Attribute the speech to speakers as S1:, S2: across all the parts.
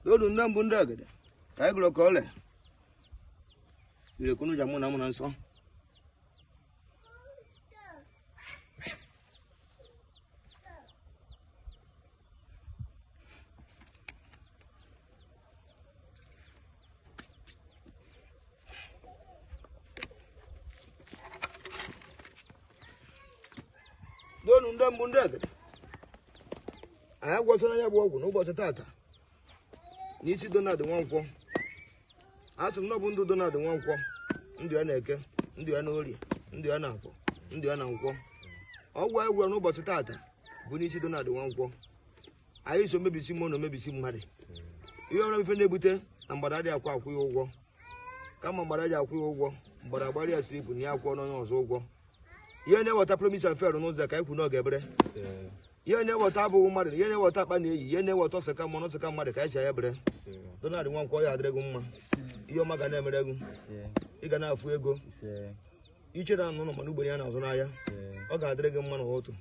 S1: n'olu ndị mbụ ndị egede ka anyị gwọrọ ka ole irekwunu ja mụ na mụ na nsọ ndị mbụ ndị egede anyị agwọsịla ya bụ ọgwụ n'ụbọchị taata n'isi Donald Nwankwọ a sị m na ọ bụ ndụ Donald Nwankwọ ndụ ya na eke ndụ ya na orie ndụ ya na afọ ndụ ya na nkwọ ọgwụ anyị gwọrọ n'ụbọchị taata bụ n'isi Donald Nwankwọ anyị sị omebisi mmụọ na omebisi mmadụ ihe ọbụla ife na-ebute na mgbada dị akwụ akwụ ya ụgwọ kama mgbada ji akwụ ya ụgwọ mgbada gbara ya siripụ na ya akwụọ n'onye ọzọ ụgwọ ihe na-eweta promise and fail n'ụzọ ka anyị kwu n'oge ebere ihe na-eweta abụghị mmadụ ihe na-eweta akpa na eyi ihe na-eweta ọsaka mmụọ ọsaka mmadụ ka anyị si anya bere Donald Nwankwo ọ ya-adịrị gị mma ihe ọma ga na-emere gị ị ga na-afụ ego iche na anụ mana ugboro ya na-azụ n'ahịa ọ ga-adịrị gị mma n'ụtụtụ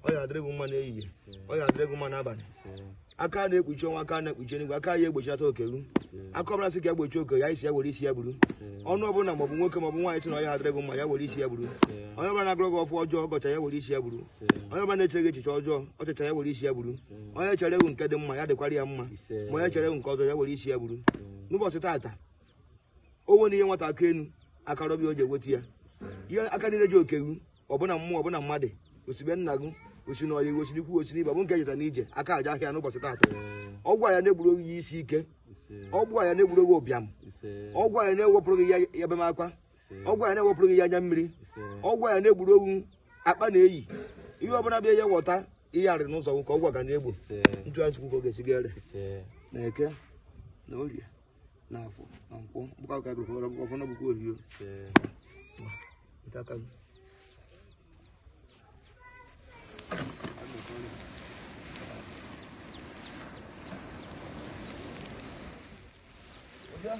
S1: ọ ga-adịrị gị mma n'ehihie ọ ga-adịrị gị mma n'abalị aka na-ekpuchi ọnwa aka na-ekpuchi eluigwe aka ya egbochilata oke gị aka ọbụla sị ka ya gbochi oke gị sị ya were isi ya buru onye ọbụla maọbụ nwoke maọbụ nwaanyị sị na ọ ya-adịrị gị mma ya were isi ya buru onye ọbụla na-agọrọ gị ọfọ ọjọọ ọ gọchaa ya were isi ya buru onye ọbụla na-eche gị echiche ọjọọ o chechaa ya were isi ya buru onye cheere gị nke dị mma ya dịkwara ya mma ma onye cheere gị nke ọjọọ ya were isi ya buru n'ụbọchị taata o nwere ihe nwata aka enu akarọbịa o ji eweta ya ihe aka niile ji oke gị ọ bụ na mmụọ ọ bụ na mmadụ o si be nna gị o si na ọyị o si n'ikwu o si n'ibe ọ bụ nke jeta n'ije aka aja ahịa n'ụbọchị taata ọgwụ a ya na-egburu gị ihe isi ike ọgwụ a ya na-egburu gị ụbịam ọgwụ a ya na-ewepụrụ gị ya ebem akwa ọgwụ a ya na-ewepụrụ gị ya anya mmiri ọgwụ a ya na-egburu gị akpa na-eyi ihe ọbụla bịa ya-eweta ihe arị n'ụzọ gị ka ọgwụ a ga na-egbu ntụgharị chukwu ka ọ ga-esi gere na eke na orie n'afọ na nkwọ bụkwa ka bụrụ ọrụ bụkwa ọfọnọ bụkwa ohio nke aka gị Yeah.